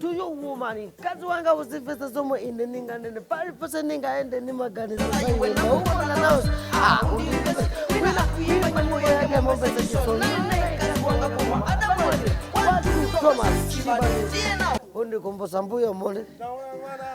to you woman mkazi wanga uzimvetsa zomwe ine ndinganene paliponse ndingayende ndimaganiza zaumona nawo yamomvetsa chisoni undikumbusa mbuyo momwe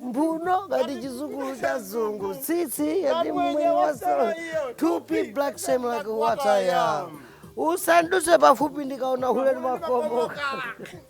mphuno ngati chizukulu cha zungu tsitsi yati mmwe wasala tupi black same like what I am usanduse pafupi ndikaona hule ndimakomoka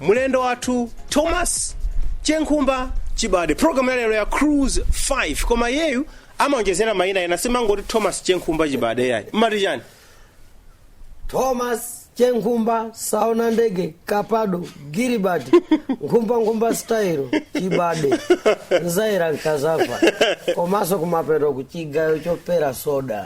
mlendo wathu thomas chenkhumba chibade programu ya lero ya cruise 5 koma iyeyu amaonjezera mayina ena simangoti thomas chenkhumba chibade yayi mmati chani thomas chenkhumba saona ndege kapado gilibert nkhumbankhumba style chibade nzaira nkazava komanso kumapeto kuchigayo chopera soda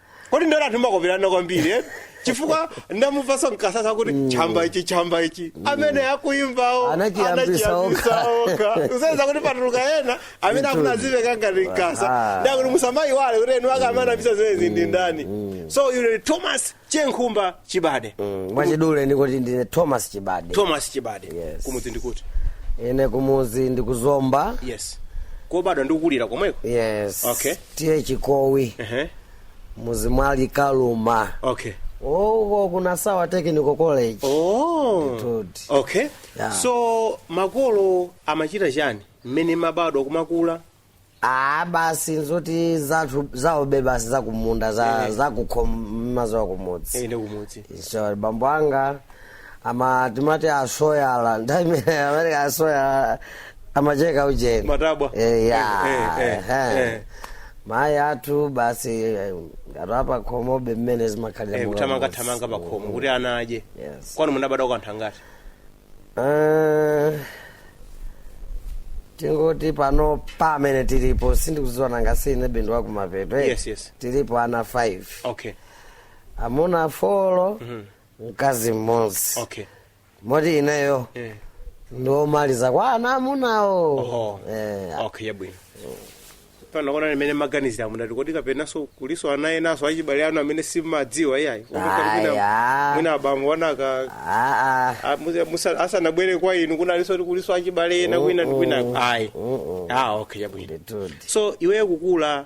kodi inu anthu mmakoperana kwambiri eh? chifukwa ndamumvaso Nkasa kuti chamba ichi chamba ichi amene akuimbawo Anachiyambisa okha. okha usaweza kuti patuluka ena amene akufuna azimveka ngati Nkasa Ah. ndakuti musamaiwale kuti eni ake amene anayambitsa zimenezi ndi ndani so iwe thomas chenkhumba chibade mwachidule ndikuti ndine thomas chibade thomas chibade Yes. kumudzi ndi kuti ine kumudzi ndi ku Zomba yes kubadwa ndikukulira komweko yes Okay. T/A Chikowi ehe mudzi wa Ali Kaluma okay uko ku Nasawa technical college oh Ndithudi. okay Yeah. so makolo amachita chani mmene mmabadwa kumakula ah basi nzoti zathu zaobebe basi zakumunda za Eh. zakukhoma mmadziwa kumudzi ende kumudzi so bambo anga amati timati asoyala ndiye amene asoyala amacheka ujeni Matabwa. Eh, ya Eh, eh, eh, ehe. eh. mayi athu basi eh, ngati apakhomobe mmene zimakhalira Eh, monga kuthamanga mbuzi. thamanga pakhomo kuti ana adye Yes. kwanu munabadwa anthu angati Eh, tingoti pano pamene tilipo sindikudziwa nanga si ine ndi wakumapeto eh. Yes, yes. tilipo ana 5 okay amuna folo mkazi mmodzi okay moti ineyo eh. ndi omaliza kwa ana amunawo Oho. Eh, okay yabwino pano kodi mmene mmaganizira mumati kodi kapenanso kuliso ana enaso achibale anu amene simmadziwa iyayi Aya. mwina abambo anaka ah, ah. asanabwere kwa inu kunalinso kuti kuliso achibale ena kwina ndi kwinako ayi ah okay yabwino Nditudi. so iweyo kukula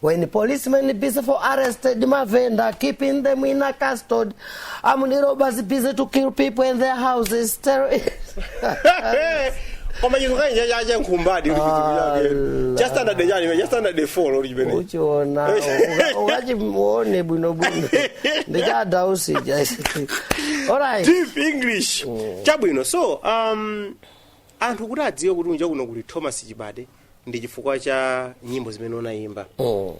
When policemen busy for arresting mavenda, keeping them in a custody, armed robbers busy to kill people in their houses. Terrorists. koma chinthu kani cha- cha- cha Chenkhumba kuti chinthu chake. Allah. cha standard chani cha standard 4 lori chimene uchiona uka- ukachimuone bwinobwino ndichadausi olright deep english chabwino so um anthu kuti adziwe kuti kunja kuno kuli thomas chibade ndi chifukwa cha nyimbo zimene unayimba oh.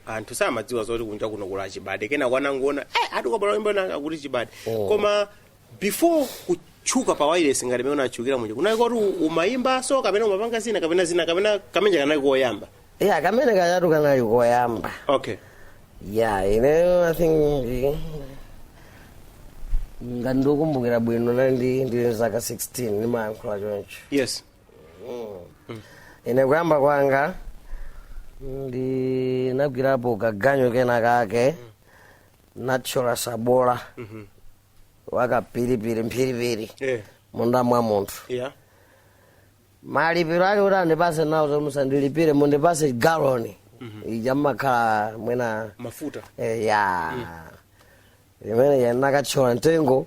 anthu samadziwa zoti kunja kuno kuli chibade kenaka anangoona eh ati kwabwera nyimbo nanga kuti chibade Oh. koma before kutchuka pa wireless ngati mene unatchukira muja kunali kuti umayimba so kapena umapanga zina kapena zina kapena kameneka kanali koyamba ya kamene kajatu kanali koyamba okay ya ineyo i think ndi- ngati ndikukumbukira bwino nali ndi ndili zaka 16 ndimayankhula choncho yes ine kuyamba kwanga ndinagwirapo kaganyo kena kake nothyola sabola wakapiripiri mphiripiri Eh. munda mwa munthu Yeah. malipiro ake kuti andipase nawo zoti musandilipire mundipase galoni ija mumakhala mwina Mafuta. eh, ya imene ndinakathyola mtengo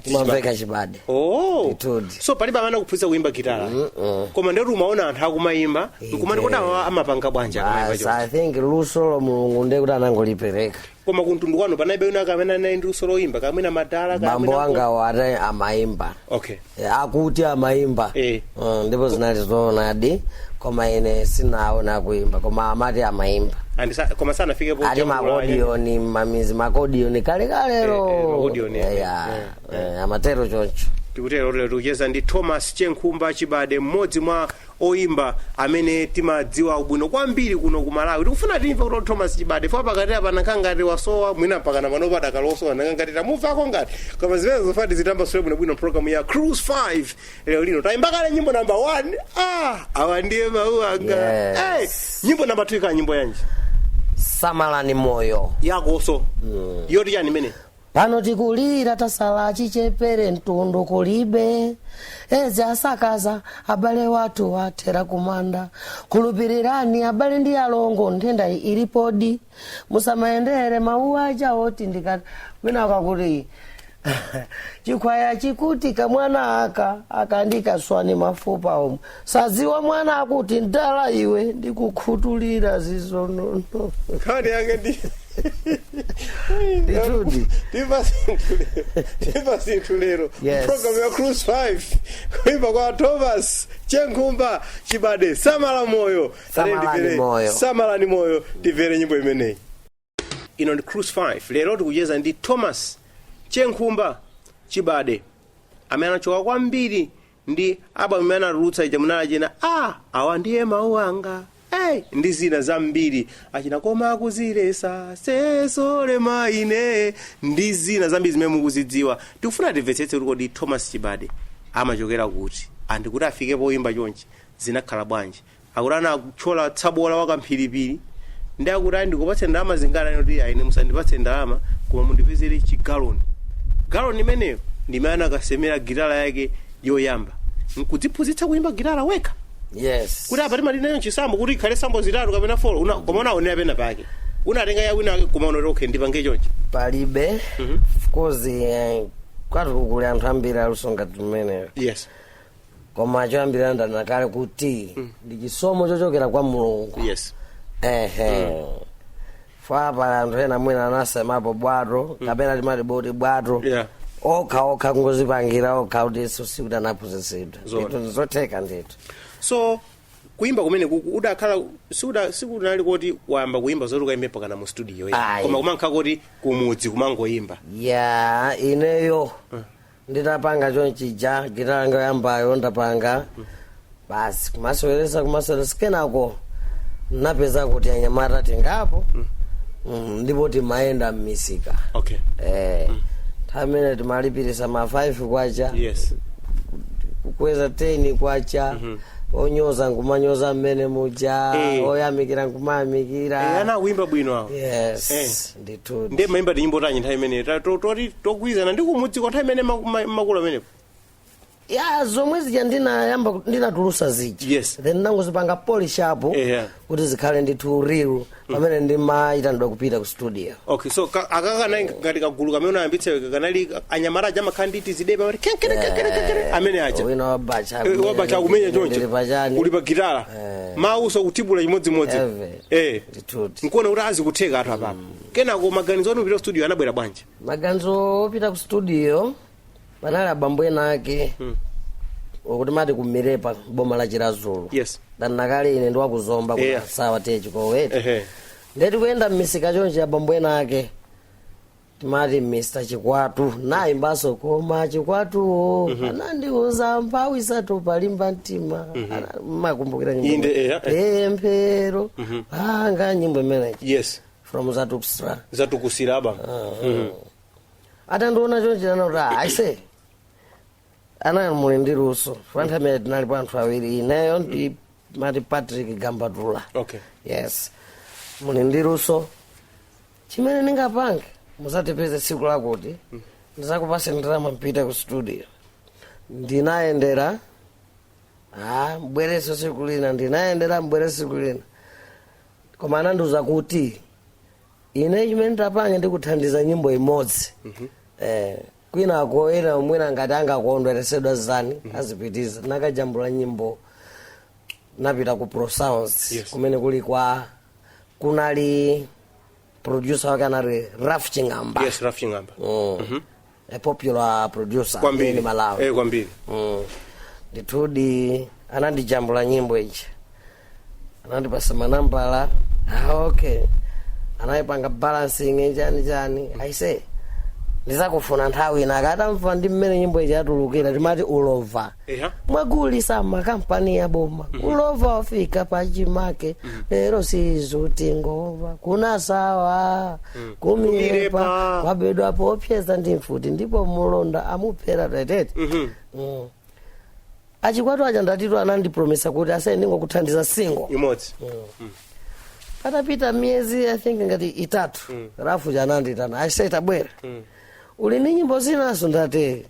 ndimamveka chibade Oh. Ndithudi. so palibe amene anakuphunzitsa kuimba gitala koma ndikuti umaona anthu akumayimba nkumati kodi awa amapanga bwanji akamayimba basi choncho? i think lusolo mulungu ndiye kuti anangolipereka koma kumtundu kwanu panalibe wina kamene anali ndi luso loyimba kaya mwina madala bambo angawo ati amayimba okay Eh, akuti amayimba Eh. Mm, ndipo zinali zoonadi koma ine sinaona akuimba koma amati amaimba And sa- koma sanafike po ali jambula- makodiyoni mamizi makodiyoni Eh, eh, kalekalero makodiyoni, eh, Eya, eh, eh, amatero choncho tikutero lero tikucheza ndi thomas chenkhumba chibade mmodzi mwa oyimba amene timawadziwa bwino kwambiri kuno ku malawi tikufuna timve kuti thomas chibade fo pakati apa anakhala ngati wasowa mwina mpaka na panopa adakasowa tinakhala ngati tamuvako ngati koma zimene zoti zitambasule bwinobwino programu ya cruise 5 lero lino tayimba kale nyimbo namba 1 ah awa ndiye mawu anga Yes. hey, nyimbo namba 2 ikhala nyimbo yanji samalani moyo yakonso yoti yani imene pano tikulira tasala achichepere mtundu kulibe Edzi yasakaza abale wathu athera kumanda khulupirirani abale ndi alongo nthenda iyi ilipodi musamayendere mawu aja oti ndikati mwina akakuti chikhwaya chikuti kamwana aka kandika ndikaswa mafupa omwe sadziwa mwana akuti mdala iwe ndikukhutulira zizonono nkhani yake ndi Ndithudi. timva zinthu lero timva zinthu lero Yes. program ya cruise 5 kuimba kwa thomas chenkhumba chibade samala moyo Samalani Tiyeni tivere- moyo. samalani moyo timvere nyimbo imeneyi ino ndi cruise 5 lero tikucheza ndi thomas chenkhumba chibade amene anatchuka kwambiri ndi album imene anatulutsa ija munali achina awa ndiye mawu anga Hey, ndi zina zambiri achina koma akuzilesa sesole maine ndi zina zambiri zimene mukuzidziwa tikufuna timvetsetse kuti kodi thomas chibade amachokera kuti ndi kuti afike poyimba chonchi zinakhala bwanji akuti anatchola tsabola wa kamphiripiri ndi akuti ayi ndikupatse ndalama zingati nkuti ayi ine musandipatse ndalama koma mundipezere chigaloni galoni imeneyo ndimene anakasemera gitala yake yoyamba nkudziphunzitsa kuyimba gitala wekha yes kuti apa timalinayo nsambo kuti ikhale sambo zitatu kapena folo una, koma unaonera pena pake unatenga yawina wake koma unati okay ndipange chonchi palibe of course eh, kwathuku kuli anthu ambiri aluso ngati mmeneyo yes koma choyambirira ndanena kale kuti ndi chisomo chochokera kwa mulungu yes ehe chifukwa pali anthu ena mwina anasemapo bwato kapena timati boti bwato Yeah. okha okha kungozipangira okha kuti isu sikuti anaphunzitsidwa Zoona. Ndithu ndizotheka ndithu so kuimba kumene kuku udakhala sikuda sikunali kuti wayamba kuimba zoti ukaimbe mpakana mu studio eh. Ayi. koma kumangokhala kuti kumudzi kumangoimba ya ineyo nditapanga chonchija gitala yanga yoyambayo ndapanga basi kumaseweresa kumaseweresa kenako ndinapeza kuti anyamata tingapo Mm, ndipo timayenda mmisika okay Eh, nthawi imeneyo timalipirisa ma 5 kwacha yes kukweza 10 kwacha onyoza nkumanyoza mmene muja Eh. oyamikira nkumayamikira Eh, ana akuyimba bwino awo yes Eh. ndithudi ndiye mumaimba tinyimbo tanji nthawi imeneyo ta- to- toti togwirizana ndi kumudzi kwa nthawi imene maku- ma- makulu amenepo ya zomwe zija ndinayamba ku- ndinatulutsa zija Yes. then ndinangozipanga polish up Eya. kuti zikhale ndithu real pamene ndimayitanidwa kupita ku studio okay so ka- aka kana ngati kagulu kamene unayambitsa kanali anyamata aja amakhala ndi tizida pamene kenkere kenkere kenkere amene aja wina wabadza Eh, wabadza akumenya choncho pachani uli pa gitala Eh. mawuso kudibula chimodzimodzi Eve. eh Toti. nkuona kuti ah zikutheka ndithu apapa kenako maganizo anu kupita ku studio anabwera bwanji maganizo opita ku studio panali abambo ena ake akuti amati ku Milepa m'boma la chiradzulu yes ndanena kale ine ndiwakuzomba Yeah. ku ti a chikowi ehe nde tikuyenda mmisika chonje abambo ena ake timati mr chikwatu nayimbaso koma chikwatuwo anandiuza mphawi sata palimba mtima Ana- mmakumbukira nyimbo Inde, imene? eya, eh. Eh, pemphero langa nyimbo imeneyi yes from zatukusira zatukusira aba atandiona chonchi anana kuti "Ah, aise ana muli ndi luso panthawimene tinalipo anthu awiri ineyo ndi mati patrick gambatula okay yes muli ndi luso chimene ndingapange muzandipeze tsiku lakuti ndizakupase ndalama mpita ku studio ndinayendera ah, mbwereso tsiku lina ndinayendera mbwereso tsiku lina koma anandiuza kuti ine chimene ndapange ndikuthandiza nyimbo imodzi eh, kwinako ena mwina ngati angakondweresedwe nazo azipitiza nakajambula nyimbo napita ku prosounds Yes. kumene kuli kwa kunali producer wake anali raf ching'amba yes raf ching'amba mm. a popular producer in malawi eh, kwambiri Mm. ndithudi anandijambula nyimbo ija anandipasa manambala ah, okay anayipanga balancing chani chani aise ndizakufuna nthawi ina akatamva ndi mmene nyimbo ija yatulukira timati ulova Eya. mwagulisa makampani a boma ulova wafika pachimake lero sizuti ngova ku nasawa kumirepa Kumirepa. kwabedwa poopseza ndi mfuti ndipo mulonda amuphera tetete Mm. achikwatu aja ndati tu anandipromisa kuti aise ine ndingokuthandiza single imodzi patapita miyezi i think ngati itatu raf uja ananditana ati aise ta bwera uli ndi nyimbo zinaso ndati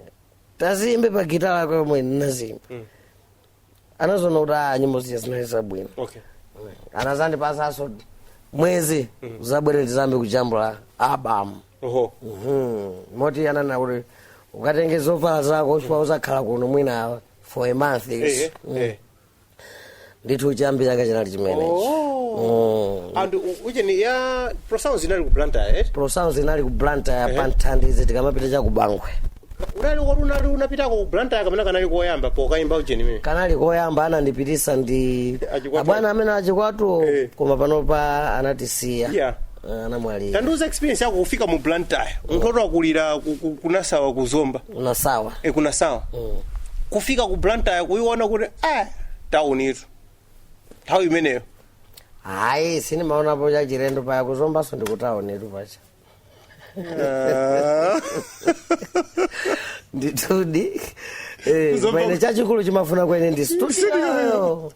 taziyimbe pa gitala yako yomwe ndinazimba anazoona kuti a nyimbo ziya zinali zabwino okay anazandipasanso mwezi uzabwere tizayambe kujambula album oho Mhm. moti anana kuti ukatenge zovala zako chifukwa uzakhala kuno mwina for a month Ehe, ehe. ndithu chiyambi chake chinali chimenechi Oh. and u- ujeni ya prosounds inali ku blantyre eh? prosounds inali ku blantyre pa nthandizi tikamapita cha ku bangwe unali woti unali unapitako ku blantyre kamene kanali koyamba pokayimba ujeni imene kanali koyamba anandipitisa ndi Achikwatu. abwana amene achikwatu Eh. koma panopa anatisiya yeah Ah, anamwalira tandiuza experience yako kufika mu blantyre munthu woti wakulira ku- ku- ku nasawa ku zomba ku nasawa e ku nasawa Mm. kufika ku blantyre kuiona kuti a tauni itu nthawi imeneyo hayi sindimaonapo cha chilendo paya ku zombaso ndi kutaunitu paja Ah. ndithudi Eh, Ku zomba- pamene chachikulu chimafunika mwene ndi studio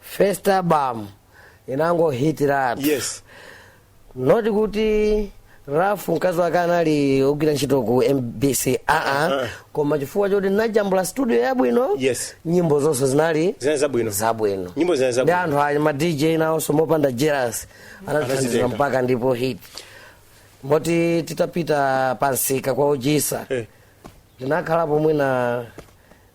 first album inangohitiratu yes not kuti rafu mkazi wake anali ogwira ntchito ku mbc ayi Uh-uh. koma chifukwa choti ndinajambula studio yabwino Yes. nyimbo zonse zinali zinali zabwino zabwino Nyimbo zinali zabwino. ndi anthu ayi ma dj nawonso mopanda jealous anatithandizira Anazitenga. mpaka ndipo hit moti titapita pansika kwa ojisa Eh. ndinakhalapo mwina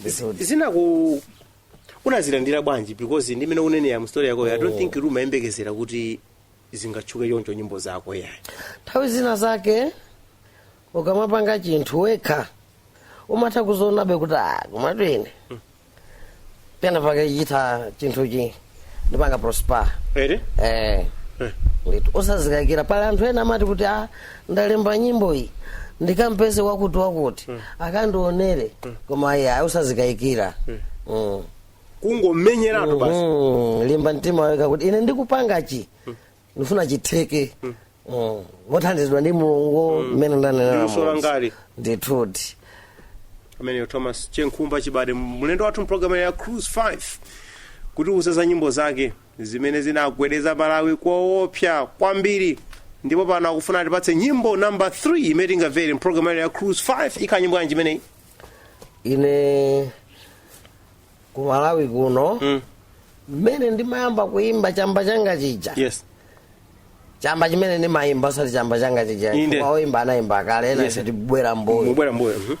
Ndithudi. zinaku unazilandira bwanji because ndi mmene ukunenera mu story yakoyo i don't think kuti umayembekezera kuti zingatchuke choncho nyimbo zako yayi nthawi zina zake ukamapanga chinthu wekha umatha kuzionabe kuti ah, komatu ine pena pake chitha chinthuchi ndipanga prosper ere eh ndithu osazikayikira pali anthu ena amati kuti a ndalemba nyimbo iyi ndikampeze wakuti wakuti akandionere koma ayi ayi osazikayikira Mm. kungomenyeratu basi Mm, limba mtima wekha kuti ine ndikupanga chi ndifuna chitheke Mm. mothandizidwa ndi mulungu mmene ndanenera Luso Mulungu. langali. ndithudi ameneyo thomas chenkhumba chibade mlendo wathu mpulogalamu ya cruise 5 kutiuza za nyimbo zake zimene zinagwedeza malawi koopsa kwambiri ndipo pano akufuna atipatse nyimbo namba 3 imene tingamvere mpulogalamu ya cruise 5 ikhala nyimbo yanji imeneyi ine ku malawi kuno Mm. mmene ndimayamba kuimba chamba changa chija yes chamba chimene ndimayimba osati chamba changa chija Inde. Chifukwa oyimba anayimba kale ena Yes. tibwera mbuyo mubwera mbuyo mhm.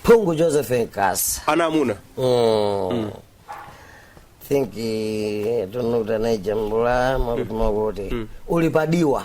phungu joseph nkasa ana amuna Mm. think eh, I don't know anaijambula amati kuti uli padiwa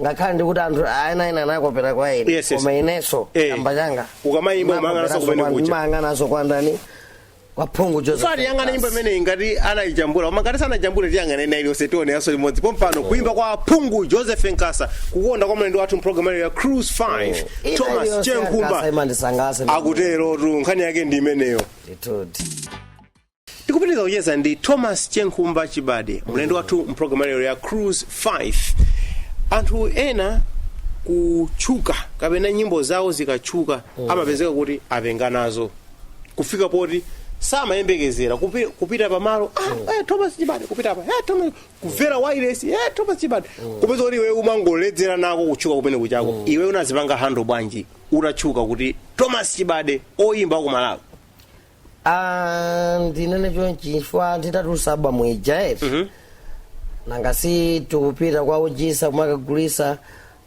ngakhale ndikuti anthu aena ena anakopera kwa ine Yes, yes. koma inenso Eh. chamba changa Ukamayimba umayang'ananso kumene kuja. mayang'ananso kwa ndani kwa phungu joseph tiyang'ana nyimbo imeneyi ngati anayijambula koma ngati sanaijambule tiyang'ane ina iliyonse tione yanso limodzi pompano kuimba kwa phungu joseph nkasa kukonda kwa mlendo wathu mpulogalamu ino ya cruise 5 Ina thomas iliyonse chenkhumba ya Nkasa imandisangalatsa akuterotu nkhani yake ndi imeneyo ndithu tikupitiriza kucheza ndi thomas chenkhumba chibade mlendo wathu mpulogalamu lero ya cruise 5 anthu ena kutchuka kapena nyimbo zawo zikatchuka amapezeka kuti apenga nazo kufika poti samayembekezera kupi- kupita pamalo ah, eh, thomas chibade kupita pa eh, thomas kuvera wireless eh, thomas chibade kupeza kuti iwe umangoledzera nako kutchuka kumene kuja koma iwe unazipanga handle bwanji utatchuka kuti thomas chibade oyimba wa ku malawi Ah, ndinene chonchi chifukwa nditatulusa album ija eti Mhm. nanga si tikupita kwa OG Issa kumakagulisa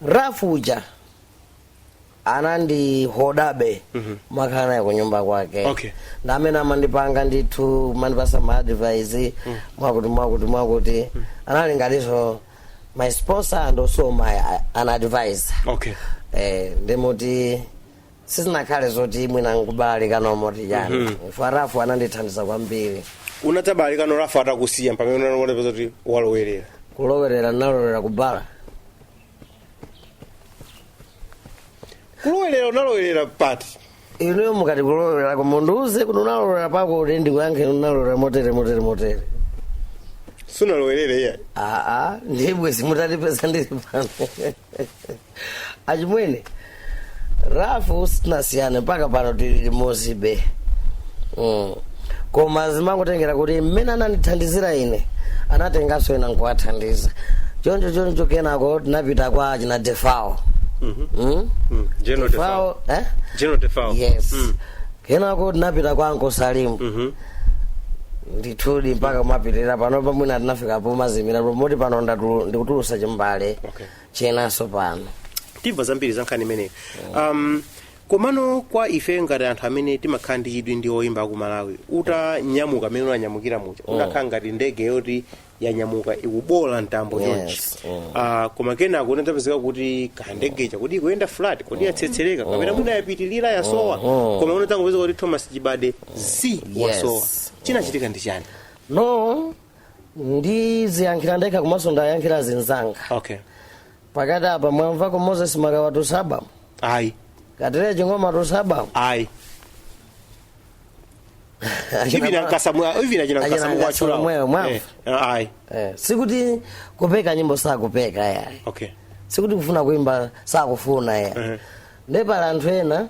rafu uja anandiholdabe kumakhala naye kunyumba kwake Okay. ndi amene amandipanga ndithu kumandipasa ma advice mwakuti mwakuti mwakuti anali ngatinso my sponsor and also my uh, an advisor okay eh, nde moti sizinakhale zoti mwina nkubalalika no moti yani Mhm. chifukwa rafu anandithandiza kwambiri unadzabalalika no rafu atakusiya pamene unaona kuti walowerera kulowerera nalowerera kubala kulowerera unalowerera pati inuyo mukati kulowerera koma mundiuze kuti unalowerera pako kuti ndikuyankhe unalowerera motere motere motere sunalowerere iya aa nde bwenzi mutandipeza ndiri pano achimwene rafu sitinasiyane mpaka pano tili limodzibe mm. koma zimangotengera kuti mmene anandithandizira ine anatenganso ena nkuwathandiza choncho choncho kenako tinapita kwa achina defao mm? Mm. General Defao. Defao, eh? General Defao. yes Mm. kenako tinapita kwa Uncle salimu Mhm. ndithudi mpaka kumapitirira pano pamwina tinafika pomazimirapo moti pano ndatu- ndikutulusa chimbale Okay. chinanso pano timva zambiri za nkhani imeneyi um, komano kwa ife ngati anthu amene timakhala ndi chidwi ndi oyimba aku malawi utanyamuka mmene unanyamukira muja unakhala ngati ndege yoti yanyamuka ikuboola mtambo Yes, chonchi mm. Ah, koma kenako unadzapezeka kuti kandege kaja kuti ikuyenda flat kodi yatsetsereka kapena mwina yapitirira yasowa koma unadzangopezeka kuti thomas chibade zii wasowa chinachitika ndi chani no ndiziyankhira ndekha komanso ndiwayankhira azinzanga okay pakati apa mwamvako moses makawa watulusa album ayi katelele ching'oma watulusa album ayi even ankasa mu even achina ankasa mukuwatchula Mwewe, mwavu. Eh, ayi Eh, sikuti kupeka nyimbo sakupeka yayi okay sikuti kufuna kuimba sakufuna yayi Mhm. nde pali anthu ena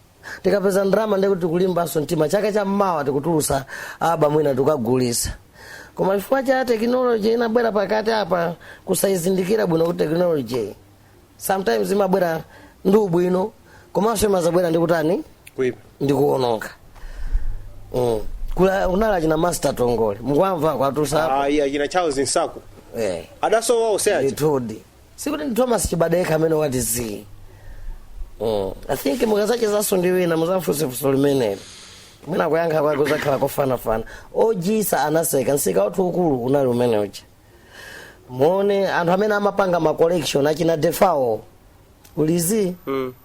tikapeza ndalama ndiye kuti tikulimbanso mtima chaka cha mmawa tikutulusa album ina tikagulisa koma chifukwa cha tekinoloji inabwera pakati apa kusayizindikira bwino kuti tekinoloji sometimes imabwera ndi ubwino komanso imazabwera ndi kutani kuipa ndi kuononga mm. Kula- kunali achina master tongole mukuwamva akutulusa ayi achina charles nsaku eh. adasowa onse aja ndithudi sikuti ndi thomas chibade yekha amene wati zii Mm. i think mukazachezanso ndi wina muzamfunse funso limeneli mwina kuyankha kwake kuzakhala kofanafana OG Issa anatseka nsika wathu ukulu unali umene uja muone anthu amene amapanga ma collection achina defao uli zii mm.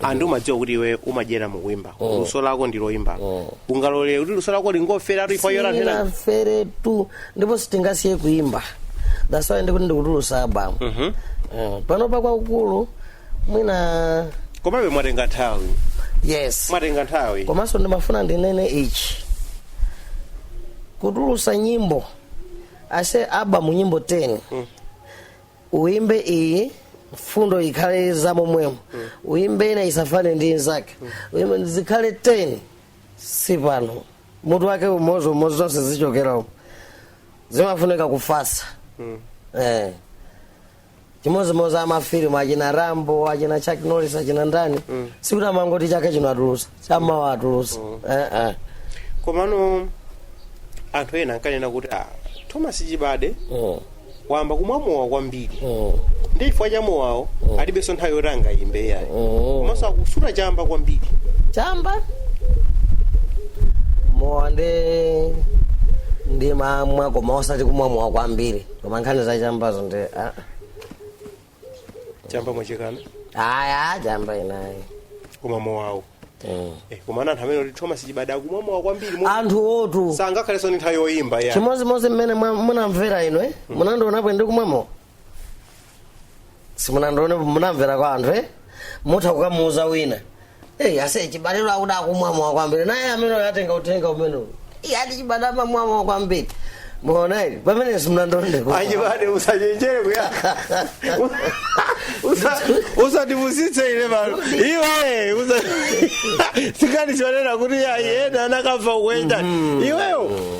anthu umadziwa kuti iwe umadyera mukuimba luso lako ndi loimba ungalolere kuti luso lako lingofera tu yayi lero ntchito sinafere tu ndipo sitingasiye kuimba that's why ndikuti ndikutulusa abamu Eh, pano pa kwakukulu mwina komabe mwatenga nthawi yes mwatenga nthawi komanso ndimafuna ndinene ichi kutulusa nyimbo ase abamu nyimbo 10 uimbe iyi mfundo ikhale za momwemo uimbe ina isafanane ndi inzake uimbe zikhale 10 si pano mutu wake umodzimodzi zonse zikuchokera umo zimafunika kufatsa eh. chimodzimodzi amafilimu achina rambo achina chuck norris achina ndani sikuti amangoti chaka chino atulusa cha mawa atulusa Eh, eh. komano anthu ena ankanena kuti ah, thomas chibade Mm, wayamba kumwa mowa kwambiri mm, ndi chifukwa cha mowawo alibenso nthawi yoti angayimbe yayi mm. komanso akusuta chamba kwambiri chamba mowa ndi ndimamwa koma osati kumwa mowa kwambiri koma nkhani za chambazo ndi ah, ah. chamba mwachikana aaa chamba ine ayi koma mowawo Mm. Eh, komano anthu amanena kuti thomas chibade akumwa mowa kwambiri mo- moti anthu oti sangakhalenso ndi nthawi yoyimba ya chimodzimodzi mmene mwa- munamvera inu eh? munandionapo ndikumwa mowa simunandionepo munamvera kwa anthu eh? mutha kukamuuza wina Hey, ase chibade akuti akumwa mowa kwambiri naye amene atenga uthenga umenewu iyeyo ati chibade amamwa mowa kwambiri muone eti pamene simunandione achibade usachenjere kuya Usa- usatipusitse ife pano iwe usa- sikanichonena kuti ayi ena anakabva kuenda iweyo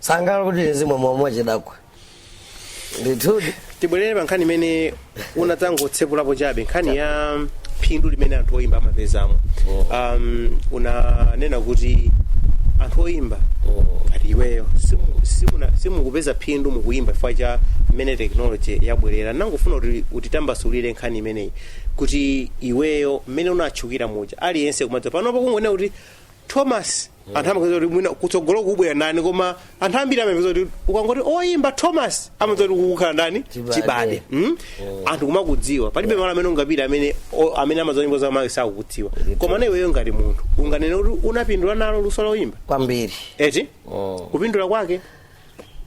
sangala kuti uzimwa mwa chidakwa ndithudi tibwerere pa nkhani imene unatangotsekulapo chabe nkhani ya phindu limene anthu oyimba amapezamo um, unanena kuti anthu oyimba ngati iweyo simu- simuna- simukupeza phindu mukuyimba chifukwa cha mmene teknoloji yabwerera ndangofuna kuti utitambasulire nkhani imeneyi kuti iweyo mmene unatchukira muja aliyense kumadziwa panopo kungonena kuti thomas anthu amadziwa kuti mwina kutsogolo kubwera ndani koma anthu ambiri amadziwa kuti ukangoti oyimba thomas amadziwa kuti kukukhala ndani Chibade. chibade Mm? anthu kumakudziwa palibe malo amene ungapita amene o- amene amadziwa nyimbo za makwaya sakukudziwa komano iweyo ngati munthu unganene kuti unapindula nalo luso loyimba kwambiri eti Mm. kupindula kwake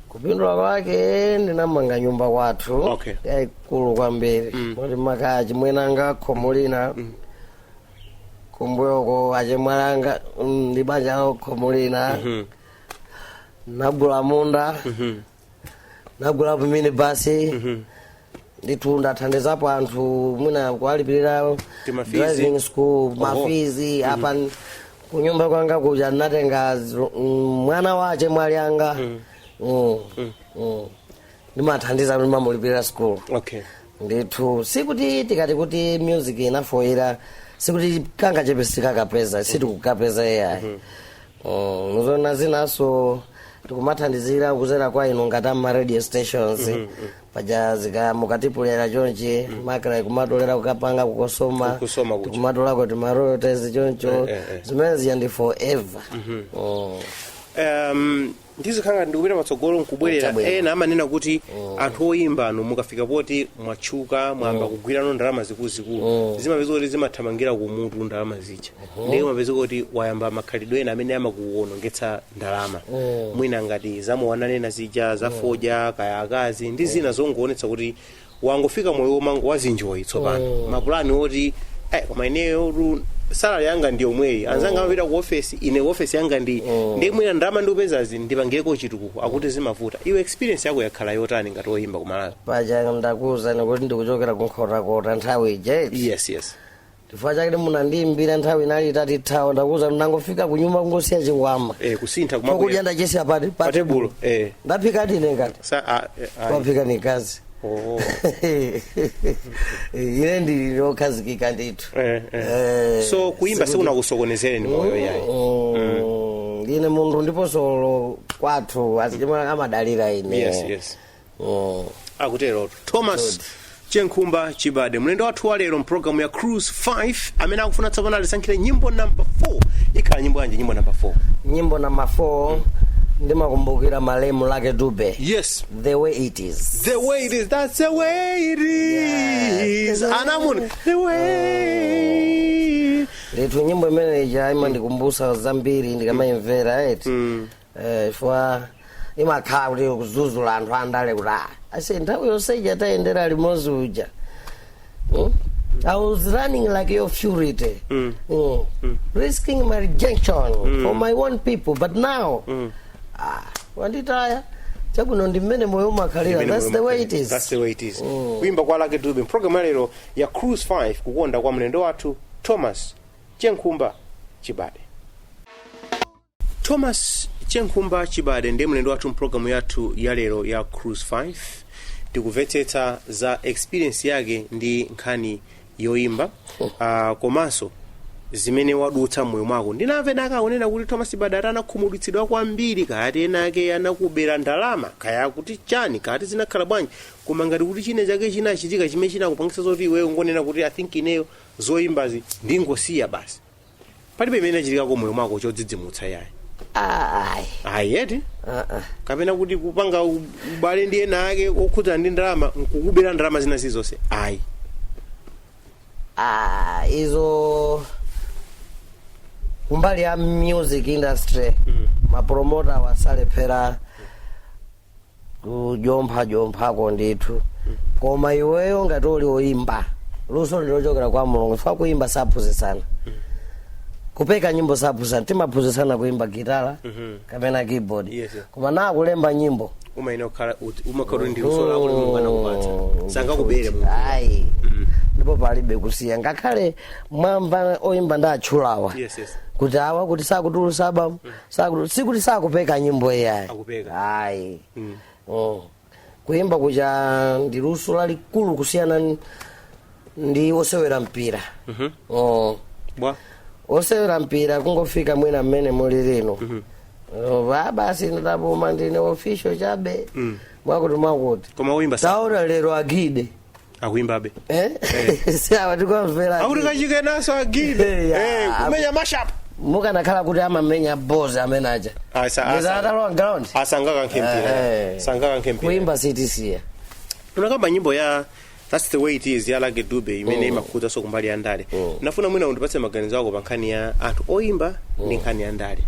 kupindula kwake ndinamanga nyumba kwathu Okay. yayikulu kwambiri kuti mwakachiona nanga khomo lina kumbuyoko achemwali anga mm, ndi banja lawo khomo lina, Mhm. nagula munda Mhm. nagula pamene basi Mhm. ndithu ndathandizapo anthu mwina kuwalipirira Timafizi. driving school mafizi apa n- kunyumba kwanga kuja ndinatenga zilo- mm, mwana wa achemwali anga Mm, mm. ndimathandiza kuti mamulipirira school okay ndithu sikuti tikati kuti music inafoyira sikuti kangachepe sitikakapeza sitikukapeza ai Mm, nzoona zinanso tikumathandizira kuzera kwa inu ngati ama radio stations paja zika mukatipuleya chonchi makra kumatolera kukapanga ku COSOMA Ku COSOMA kuja. tikumatolako tima royalties choncho Eh, eh, eh. zimene zija ndi forever Mm. um, ndizikhala ngati ndikupita patsogolo nkubwerera Kutabwera. ena amanena kuti anthu oyimbanu mukafika poti mwatchuka mwayamba kugwirano ndalama zikuluzikulu zimapezeka kuti zimathamangira kumutu ndalama zija ndiye umapeza kuti wayamba makhalidwe ena amene amakuwonongetsa ndalama mwina ngati zamwanena zija zafodya kaya akazi ndi zina zongoonetsa kuti wangofika moyo womangowazinjoyi tsopano Oh. mapulani oti eh, koma ineyotu salary yanga ndi yomweyi anzanga amapita ku ofesi ine ku ofesi yanga ndi Oh. ndi mwina ndalama ndikupezazi ndipangireko chitukuko akuti zimavuta iwe experience yako yakhala yotani ngati woyimba ku Malawi paja ndakuwuzani kuti ndikuchokera ku nkhotakota nthawi ija iti yes yes chifukwa chake munandiimbira nthawi inali itatithawa ndakuuzani ndangofika kunyumba kungosiya chikwama eh kusintha chokudya kumakuya ndachisiya pati pa pa tebulo eh ndaphika ndine ngati sa a a- waphika mkazi oh ine ndili lokhazikika ndithu eh eh Eh, so kuimba sikuti- sikunakusokonezereni moyo yayi Mm, ine munthu ndipo solo kwathu azichimwene amadalira ine yes yes oh. akutero thomas chenkhumba chibade mlendo wathu wa lero mpulogalamu ya cruise 5 amene akufuna tsopano alisankhire nyimbo namba 4 ikhala nyimbo yanji nyimbo namba 4 nyimbo namba 4 ndimakumbukira malemu lucky dube yes the way it is the way it is that's the way it is Yes. amamuni the way eetu nyimbo imeneyi imandikumbutsa zambiri ndikamayimvera eti Eh, chifukwa imakhala kuti kudzudzula anthu andale kuti "Ah, ase nthawi yonse ija tayendera limodzi uja Hmm? I was running like a fugitive, Mm. Mm. risking rejection from my own people. But now, ah, wanditaya chakuno ndi mmene moyo umakhalira. Imene That's the mwe- way it is. That's the way it is. kuimba kwa lucky dube mpulogalamu yalero ya cruise 5 kukonda kwa mlendo wathu thomas chenkhumba chibade thomas chenkhumba chibade ndiye mlendo wathu mpulogalamu yathu ya lero ya cruise 5 tikuvetsetsa za experience yake ndi nkhani yoimba uh, komanso zimene wadutsa mmoyo mwako ndinamvanako akunena kuti thomas chibade ati anakhumudwitsidwa kwambiri kayati enaake anakubera ndalama kaya kuti chani kayati zinakhala bwanji koma ngati kuti china chake chinachitika chimene chinakupangisa zoti iweyo ungonena kuti i think ineyo zoyimbazi ndingosiya basi palibe chimene chinachitikako mmoyo mwako chodzidzimutsa yayi Ah, ayi ayi eti Ah, ah. kapena kuti kupanga u- ubale ndi enaake okhudzana ndi ndalama nkukubera ndalama zina zilizonse ayi Ah, izo kumbali ya music industry mapromotawa salephera kujompha jomphako ndithu koma iweyo ngati uli oyimba luso ndilochokera kwa mulungu chifukwa kuyimba saphunzitsana kupeka nyimbo saphunzitsana timaphunzitsana kuyimba gitala kapena keyboard Yes, yes. koma na kulemba nyimbo umayenera kukhala ut- umakhala kuti ndi luso lako lomwe mulungu anakupatsa sangakubere munthu ayi ndipo palibe kusiya ngakhale mwamva oyimba ndatchulawa Yes, yes. kuti awa kuti sakutulutsa album Sakuti sikuti sakupeka nyimbo iyayi. Akupeka. Ayi. Mm. Mm. Kuimba kuja ndi luso lalikulu kusiyana n- ndi osewera mpira. Mhm. Mm. Bwa. Osewera mpira kungofika mwina mmene muli lino. Ova basi ndapuma ndine official chabe. Mm. Mwakuti mwakuti. Koma kuimba sa. Taona lero a Gide. akuimbabe eh sawa tikomvera akuti kachikenaso a gide Eh, ya. Eh, kumenya mashup mukanakhala kuti amamenya bozi amene aja Ayi, sa- asa- atalowa ground asangakankhe Eh, mpira eh. sangakankhe mpira kuimba sitisiya unakamba nyimbo ya that's the way it is ya lucky dube imene imakhudzanso kumbali ya ndale nafuna mwina undipatse maganizo ako pa nkhani ya anthu oyimba ndi nkhani ya ndale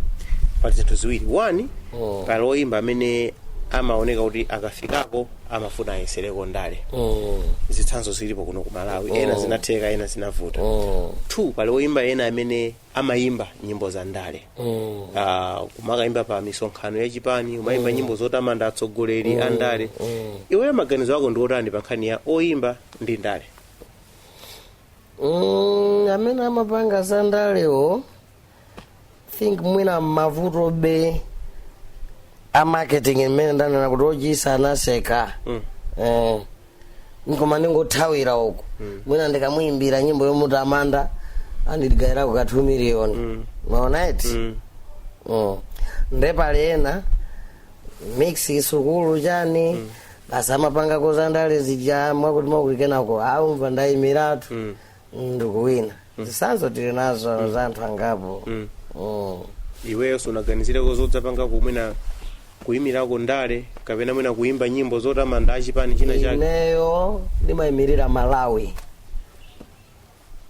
pali zinthu ziwiri one pali oyimba amene amaoneka kuti akafikako amafuna ayesereko ndale Mm. zitsanzo zilipo kuno ku malawi Oh. ena zinatheka ena zinavuta Mm. two pali oyimba ena amene amayimba nyimbo za ndale Mm. Ah, kumakayimba pa misonkhano ya chipani kumayimba nyimbo zotamanda atsogoleri a ndale Mm. iweyo maganizo ako ndi otani pa nkhani ya oyimba ndi ndale Mm, amene amapanga za ndalewo think mwina mavutobe a marketing imene ndanena kuti wotchitsa anaseka eh, koma ndingothawira uku mwina ndikamuyimbira nyimbo yomutamanda andigayirako ka 2 million mwaona eti Mm. nde pali ena mix sukulu chani basi amapangako zandale zija mwakuti mwakuti kenako akumva ndaimiratu ndikuwina zitsanzo tili nazo za anthu angapo Mm. Mm. iweyo sunaganizireko zodzapangako mwina kuyimirako ndale kapena mwina kuyimba nyimbo zotamanda achipani china chake ineyo ndimayimirira malawi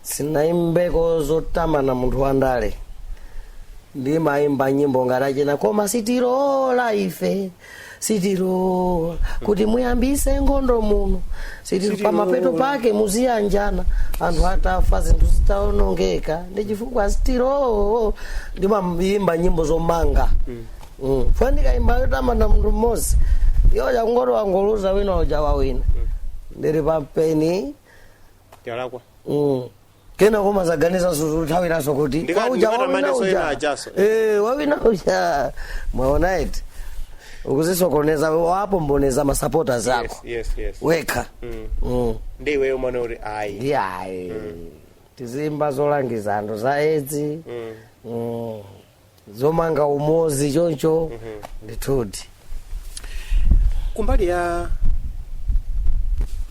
sinayimbeko zotamanda munthu wandale ndimayimba nyimbo ngati achina koma sitilola ife sitilola kuti muyambise nkhondo muno sitilola Sitilola. pamapeto pake muziyanjana anthu atafa zinthu zitaonongeka ndi chifukwa sitilola ndimayimba nyimbo zomanga Mm. fwe ndikayimba yotamanda munthu mmodzi iyoyo akangoti wangoluza wina uja wawina ndiri pampeni Yalakwa. Mm. kenako mudzaganizanso zothawiranso kuti Ndikati- wauja ndikati wawina amaneso uja. ena achaso. Eh, wawina uja mwaona eti ukuzisokoneza wapombonezga masupporters ako yes yes wekha Mm. ndi iweyo umane kuti ayi ndiyayi tiziyimba zolangiza anthu za edzi Mm. zomanga umozi choncho ndithudi kumbali ya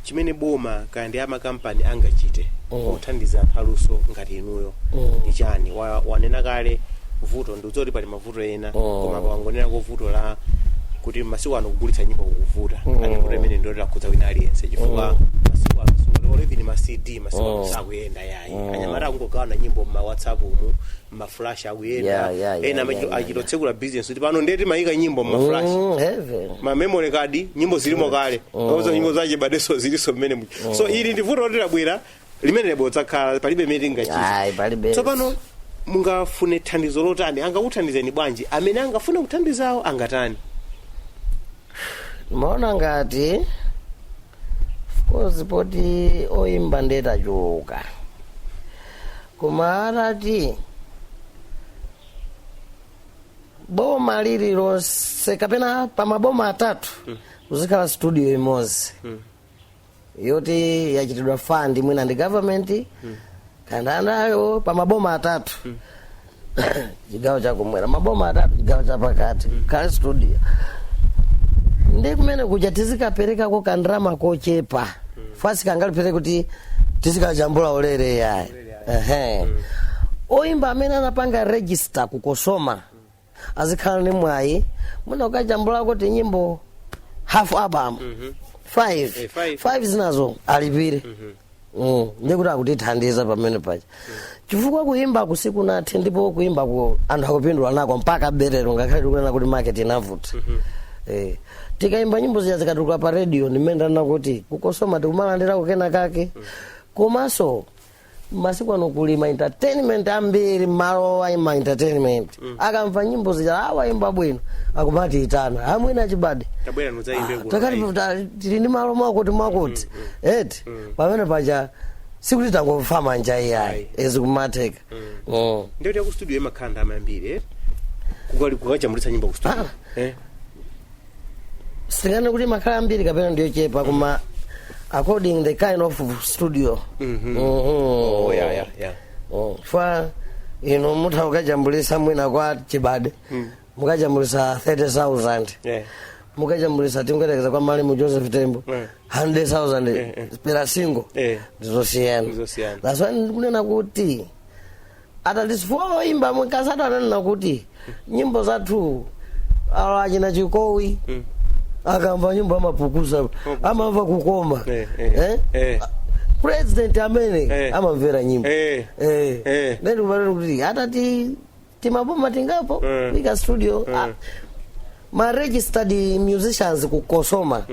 chimene boma kaya ndi amakampani angachite Mm. kuthandiza anthu aluso ngati inuyo Mm. ndi chani Wa- wanena kale vuto ndi zoti pali mavuto ena koma wangonenako vuto la kuti masiku ano kugulitsa nyimbo kukuvuta Mm. ati vuto imene ndiyoti lakhudza wina aliyense chifukwa masiku ano siku- olo even ma cd masiku ano Mm. sakuyenda yayi Mm. anyamata akungogawana nyimbo mma whatsapp umu maflash akuyenda Yeah, yeah, yeah, ena amachito- yeah, yeah, achitotsekula business kuti pano ndiye timayika nyimbo mmaflash Mm, even ma memory card nyimbo zilimo kale ozo nyimbo za Chibadenso ziliso mmenemu so ili ndi vuto loti labwera limene libodzakhala palibe chimene Ayi, tingachite palibe. tsopano mungafune thandizo lotani angakuthandizeni bwanji amene angafune kuthandizawo angatani ndimaona ngati of course poti oyimba nde tachuluka koma atati boma lililonse kapena pa maboma atatu kuzikhala studio imodzi yoti yachitidwa fund mwina ndi government kaya ndi ndani pa maboma atatu chigawo chakumwera maboma atatu chigawo chapakati kuli studio ndi kumene kuja tizikaperekako kandalama kochepa fanizi sikangalephere kuti tizikajambula ulere yayi ehe oyimba amene anapanga register ku Cosoma azikhala ndi mwayi mwina ukajambulako tinyimbo half album five Eh, five. five zinazo alipire Mm, ndiye kuti akutithandiza pamene paja chifukwa kuyimbaku sikunathe ndipo kuyimbaku anthu akupindula nako mpakabe lero ngakhale tikunena kuti market inavuta Eh, tikayimba nyimbo zija zikatuluka pa radio ndimene ndanena kuti ku cosoma tikumalandirako kenakake komanso masiku ano kuli ma entertainment ambiri mmalo ayi ma entertainment akamva nyimbo zija a wayimba bwino akumatiitana amwene a chibade tabwera nudzaimbe kuno takati ayi. ta- tili ndi malo mwakuti mwakuti eti pamene paja sikuti tangofa manja iyayi e zikumatheka Mm. ndiye kuti ku studio imakhala ndalama yambiri eh? Kukali- kukajambulitsa nyimbo ku studio Ah. eh? singanene kuti imakhala yambiri kapena ndi yochepa koma according the kind of studio Mhm. Oh, yeah, yeah, yeah. Oh, fa inu mutha mukajambulisa mwina kwa chibade mukajambulisa 30000 Yeah. mukajambulisa tingoyerekeza kwa malemu joseph tembo Yeah. 100000 per single Yeah. ndizosiyana Ndizosiyana. that's why ndikunena kuti at least chifukwa woyimba mkasatu ananena kuti nyimbo zathu awa achina chikowi akamva nyimbo amapukusa amamva kukoma Eh, eh, Eh? eh. president amene Eh. amamvera nyimbo Eh. Eh. Eh. Then umanena kuti atati timaboma tingapo Eh. ika studio Ah, ma registered musicians ku cosoma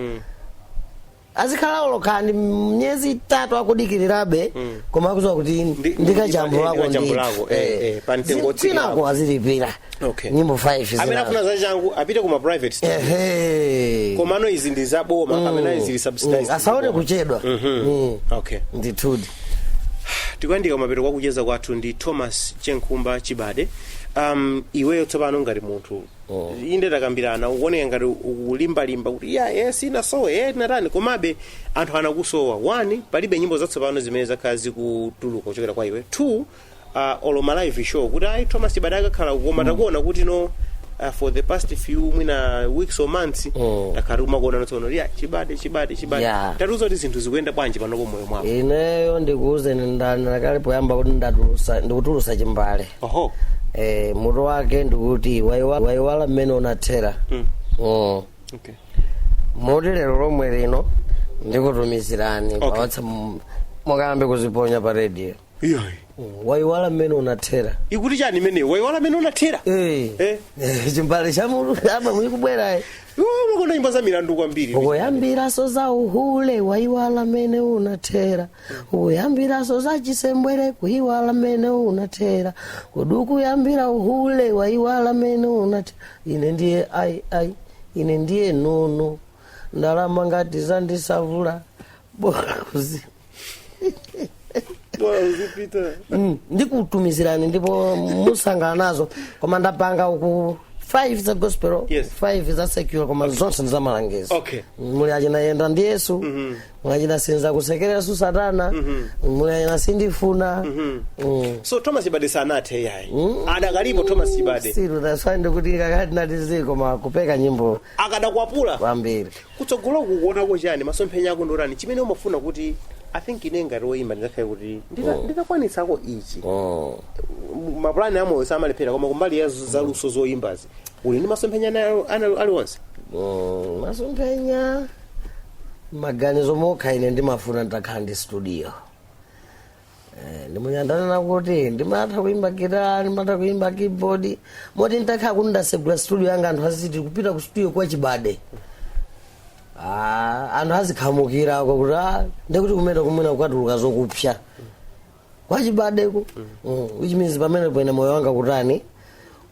azikhala olo kaya ndi miyezi itatu akudikirirabe koma akuziwa kuti Ndi- ndi- ndikajambulako ndi- ndikajambulako, eh, eh, pa mtengo wotsika kwinako apo. azilipira Okay. nyimbo 5 amene zinazo. afuna zachangu apite kuma private studio Ehe. komano izi ndi zaboma kapena izi ndi subsidized Mm, asaone zaboma. kuchedwa Mhm. Mm. okay ndithudi tikuyandika mapeto kwa kucheza kwathu ndi thomas chenkhumba chibade um, iweyo tsopano ngati munthu inde takambirana ukuoneka ngati ukulimbalimba kuti ya e sinasowe e tinatani komabe anthu anakusowa one palibe nyimbo zatsopano zimene zakhala zikutuluka kuchokera kwa iwe two uh, olo ma live show kuti ayi thomas chibade akakhala uku koma takuona kuti no uh, for the past few mwina weeks or months Mm. takhala tikumakuona notsono ya chibade chibade chibade Yeah. tatiuza kuti zinthu zikuyenda bwanji panopo moyo mwako ineyo ndikuuzeni ndanena kale poyamba kuti ndatulusa ndikutulusa chimbale oho eh, mutu wake ndikuti waiwa- waiwala mmene unathera Mm. mm. okay moti lero lomwe lino ndikutumizirani Okay. pa whatsapp mukayambe kuziponya pa radio iyoyi Mm, waiwala mmene unathera ikuti chani imeneyo waiwala mmene unathera Eh. Eh. Eh, chimbale cha mu album ikubwerayi Iwe umakonda nyimbo za milandu kwambiri ukuyambiranso za uhule waiwala mmene unathera ukuyambiraso za chisembwere kuiwala mene unathera kodi ukuyambiraso uhule waiwala mene unathera ine ndiye ai ai ine ndiye nono ndalama ngati zandisavula bora kuzi bora uzipita Mm, ndikutumizirani ndipo musangalala nazo koma ndapanga uku 5 za gospel Yes. 5 za secular koma zonse ndi za malangizo okay muli muchina yenda ndi yesu muli china sindizakusekereranso satana muli china sindifuna Mm. so thomas chibade sanathe iyayi adakalipo thomas chibade siru taswandi kuti kakati natizi koma kupeka nyimbo akadakwapulabe kwambiri kutsogolo kukuonako chani masomphenya ako ndi otani chimene umafuna kuti i think ine ngati woyimba nditakhala kuti ndita- nditakwanisako ichi Mm. M- mapulani amoyo samalephera koma kumbali ya z- zaluso zoyimbazi uli ndi masomphenya ana- ana- aliwonse Mm, masomphenya maganizo mokha ine ndimafuna nditakhala ndi studio Eh, ndimu ndanena kuti ndimatha kuimba gitara ndimatha kuimba keyboard moti nditakhala kuti ndasegula studio yanga anthu aziti kupita ku studio kwa chibade Ah, anthu azikhamukirako kuti ah, ndi kumene kumene kukatuluka zokupsa kwachibadeko mm. which means pamenepo ine moyo wanga ukutani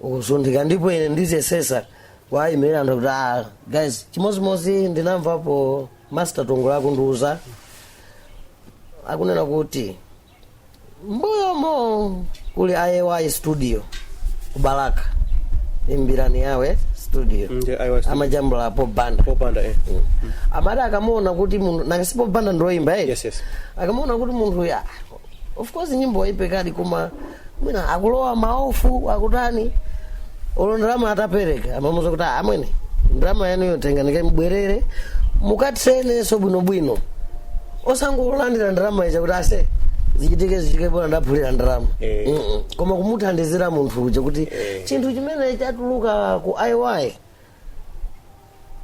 ukusunthika ndipo ine ndiziyesesa kuwaimira anthu kuti ah, guys chimodzimodzi ndinamvapo Master Tongole akundiuza akunena kuti mbuyomo kuli IY studio ku Balaka imbirani yawe studio Ndi IY studio. amajambula Paul Banda Paul Banda eh. amati akamuona kuti munthu ngati si Paul Banda ndioyimba eh? yes yes akamaona kuti munthu ya of course nyimbo waipekadi koma mwina akulowa maofu akutani olo ndalama atapereka amamuuza kuti "Ah, amwene ndalama yanu iyo tengani kambwerereni mukayesenso bwinobwino osangolandira ndalama ija kuti ase zichitike zichitike bola ndaphula ndalama Eh. Mm-mm. koma kumuthandizira munthu uja kuti chinthu chimene chatuluka ku iy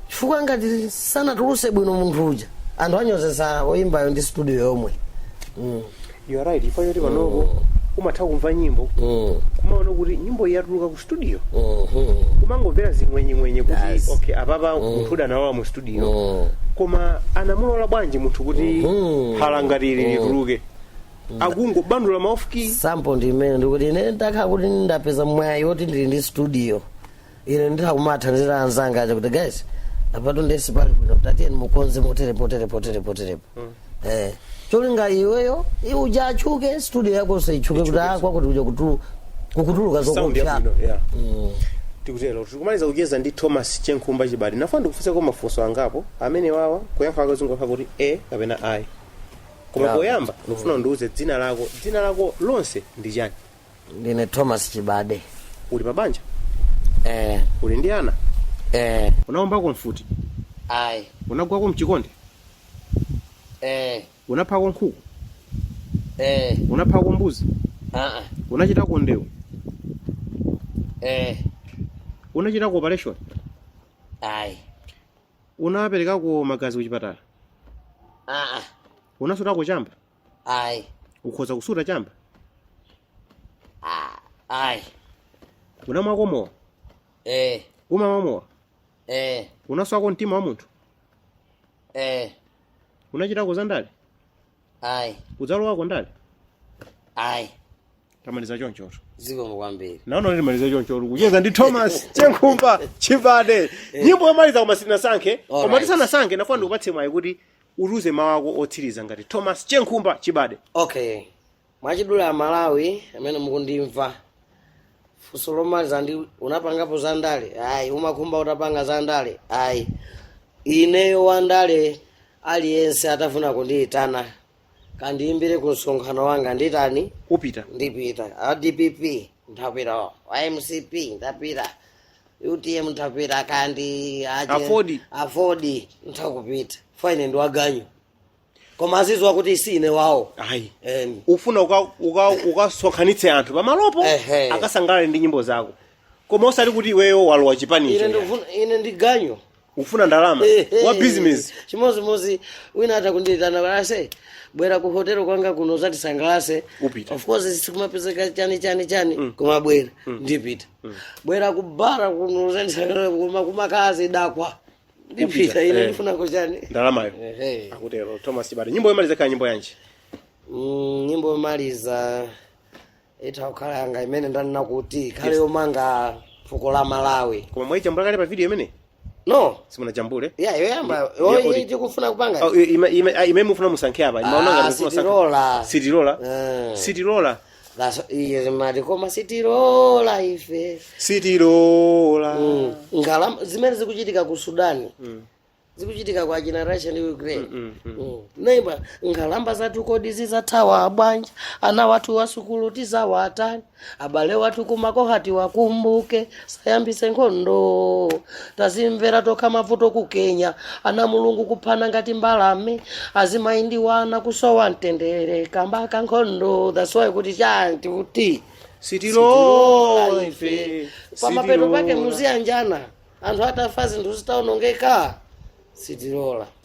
chifukwa ngati sanatuluse bwino munthu uja anthu anyozesa oyimbayo ndi studio yomwe mm. you are right chifukwa choti panopo umatha kumva nyimbo Mm. kumaona kuti nyimbo iyi yatuluka ku studio Mhm. kumangomvera zing'wenyeng'wenye kuti Yes. okay apapa munthu uyu analowa mu studio Mm. koma anamulola bwanji munthu kuti Mhm. phala ngati ili lituluke akungobandula ma off key sample ndi imene ndikuti ine ndakhala kuti ndapeza mwayi woti ndili ndi studio ine nditha kumathandizira anzanga aja kuti guys apatu ndiye si pali bwino kuti tiyeni mukonze motere potere potere poterepo eh cholinga iweyo iwe uja atchuke studio yako isatchuke kuti ah kwakuti uja kutulu kukutuluka sound zokupya yabwino yeah. Tikutero tikumaliza kucheza ndi thomas chenkhumba chibade ndafuna ndikufunseko mafunso angapo amene awa kuyankha kwake zingokhala kuti aa kapena ayi koma Yeah. poyamba ndikufuna undiuze dzina lako dzina lako lonse ndi chani ndine thomas chibade uli pa banja eh, uli ndi ana eh, unaombako mfuti ayi unagwako mchikonde eh, unaphako nkhuku eh, unaphako mbuzi aa, unachitako ndewu eh, unachitako operation ayi unaperekako magazi kuchipatala aa, unasutako chamba Ayi. ukhoza kusuta chamba Ah, ayi. unamwako mowa Eh, umamwa mowa eh, unaswako mtima wa munthu eh, unachitako za ndale ayi, udzalowako ndale ayi. tamaliza chonchoto Zikomo kwambiri. ndaona kuti timaliza chonchoto kucheza ndi thomas chenkhumba chibade nyimbo yomaliza koma sitinasankhe koma Alright. tisanasankhe ndafuna ndikupatse mwayi kuti utiuze mawu ako otsiriza ngati thomas chenkhumba chibade okay mwachidule amalawi amene mukundimva funso lomaliza ndi unapangapo za ndale ayi umakhumba utapanga za ndale ayi ineyo wa ndale aliyense atafuna kundiyitana kandiyimbire ku msonkhano wanga nditani upita, ndipita a dpp nthapita a mcp nthapita utm nthapita kaya ndi aje- Aford. aford nthakupita ine ndi waganyu koma aziziwa kuti si ine wawo ayi Em, ufuna uka- uka- ukasonkhanitse anthu pamalopo Ehe. akasangalale ndi nyimbo zako koma osati kuti iweyo walowa chipani ine icho ndikufuna- ine ndi ganyu ufuna ndalama wa business chimodzimodzi wina atha kundiitana aise bwera ku hotel kwanga kuno uzatisangalase Upita. of course sikumapezeka chani chani chani koma bwera ndipita bwera ku bara kuno uzandisangalase koma kumakhala zidakwa ndipita ine Eh. ndifuna chani ndalamayo Ehe. akutero thomas chibade nyimbo yomaliza kaya nyimbo yanji Mm, nyimbo yomaliza itha kukhala yanga imene ndanena kuti ikhale Yes. yomanga fuko la malawi koma mwaijambula kale pa video imene no simunajambule ya yoyamba Ya- ya audio. tikufuna kupanga Oh, ima- ima- ah, imene mufuna musankhe apa imayamba Ah, ngati mufuna sankhe. sitilola. sitilola Eh. sitilola That's- iye zimati koma sitilola ife sitilola Mm. Ngalama- zimene zikuchitika ku sudani zikuchitika kwa achina russia ndi ukraine neighbor nkhalamba zathu kodi zizathawa bwanji ana wathu wa sukulu tizawatani abale wathu kumakhoma tiwakumbuke tisayambise nkhondo tazimvera tokha mavuto ku kenya ana mulungu kuphana ngati mbalame azimayi ndi wana kusowa mtendere kamba ka nkhondo that's why kuti chanti kuti sitilola ife pamapeto pake muziyanjana anthu atafa zinthu zitaonongeka sitilola